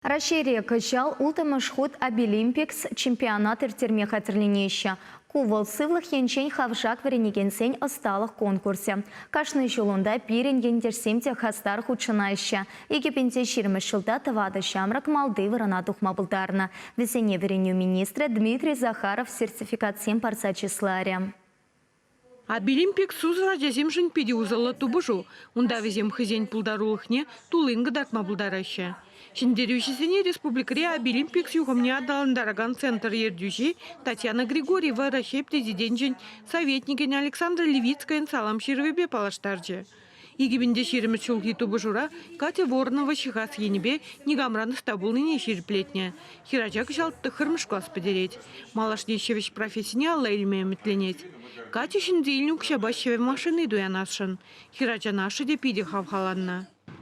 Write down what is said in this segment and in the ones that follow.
Раҫҫейре кӑҫал улттӑмӗш хут Обилимпикс чемпионат ирттерме хатӗрленеҫҫӗ. Ку вӑл сывлӑх енчен хавшак вӗренекенсен ӑсталӑх конкурсӗ. Кашни ҫул унта пирӗн ентешсем те хастар хутшӑнаҫҫӗ. Икӗпинче ҫирӗмӗш ҫулта тӑватӑ ҫамрӑк малти вырӑна тухма пултарнӑ. Вӗсене вӗренӳ министрӗ Дмитрий Захаров сертификатсем парса чысларӗ. Абилимпик сусӑр ачасемшӗн питӗ усӑллӑ тупӑшу. Унта вӗсем хӑйсен пултарулӑхне туллин кӑтартма пултараҫҫӗ. Ҫӗнтерӳҫӗсене республикӑри Абилимпик юхӑмне аталантаракан центр ертӳҫи Татьяна Григорьева Раҫҫей Президенчӗн Советникӗн Александра Левицкайӑн салам ҫырӑвӗпе паллаштарчӗ. Икӗ пин те ҫирӗммӗш ҫулхи тупӑшура Катя Ворнова ҫыхас енӗпе никамран ӑста пулнине ҫирӗплетнӗ. Хӗрача кӑҫал тӑххӑрмӗш класс пӗтерет. Малашне ҫӗвӗҫ профессине алла илме ӗмӗтленет. Катя ҫынни илнӗ укҫапа ҫӗвӗ машини туянасшӑн. Хӗрачан ашшӗ те питӗ хавхаланнӑ.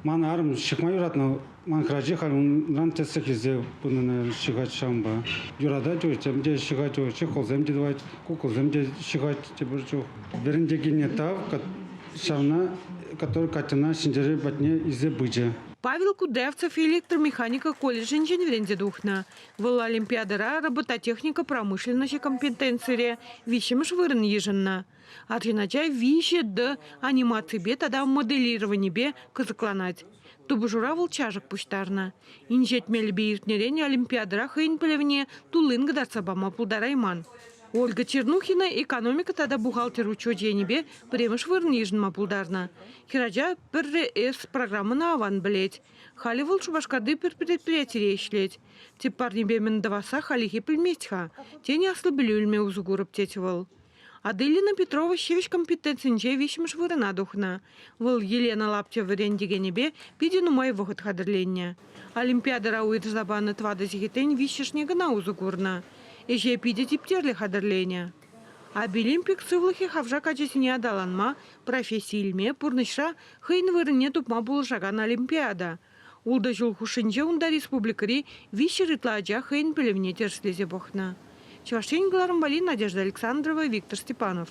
Ман арӑм чӑтма юратнӑ Ман храчи халь унран тӗслӗх илсе пынӑ ҫыхать ҫавӑнпа. Юратать утьсем те ҫыхать у, чехолсем те тӑвать, кукӑлсем те ҫыхать тепӗр чух. Вӗрентекенне тав, ҫавна, который Катьӑна Ҫӗнтерӳ патне илсе пычӗ. Павел Кудевцев электромеханика колледжӗнчен вӗренсе тухнӑ. Вӑл олимпиадӑра робототехника промышленноҫӗ компетенцире виҫҫӗмӗш вырӑн йышӑннӑ. Арҫын ача виҫӗ Д анимаципе тата моделированипе кӑсӑкланать. Тупӑшура вӑл чашӑк пуҫтарнӑ. Инҫет мелӗпе иртнӗрен Олимпиадӑра хӑйӗн пӗлӗвне туллин кӑтартса пама пултарайман. Ольга Чернухина экономика тата бухгалтер учечӗ енӗпе пӗрремӗш вырӑн йышӑнма пултарнӑ. Хӗрача пӗрре С программӑна аван пӗлет. Халӗ вӑл Шупашкарти пӗр предприятире ӗҫлет. Тӗп парнепе мӗн тӑвасса халлӗхе пӗлмест-ха. Тен, аслӑ пӗлӳ илме усӑ курӑп, тет вӑл. Аделина Петрова ҫивӗч компетенцинче виҫҫӗмӗш вырӑна тухнӑ. Вӑл Елена Лаптева вӗрентекенӗпе питӗ нумай вӑхӑт хатӗрленнӗ. Олимпиадӑра уйӑрса панӑ тӑватӑ сехетрен виҫҫӗшне кӑна усӑ курнӑ. Ӗҫе питӗ типтерлӗ хатӗрленӗ. Обилимпик сывлӑхӗ хавшак ачасене аталанма, професси илме, пурнӑҫра хӑйӗн вырӑнне тупма пулӑшакан олимпиада. Ултӑ ҫул хушшинче унта республикӑри виҫҫӗр ытла ача хӑйӗн пӗлӗвне тӗрӗслесе пӑхнӑ. Чӑваш Ен кӑларӑм валли Надежда Александрова, Виктор Степанов.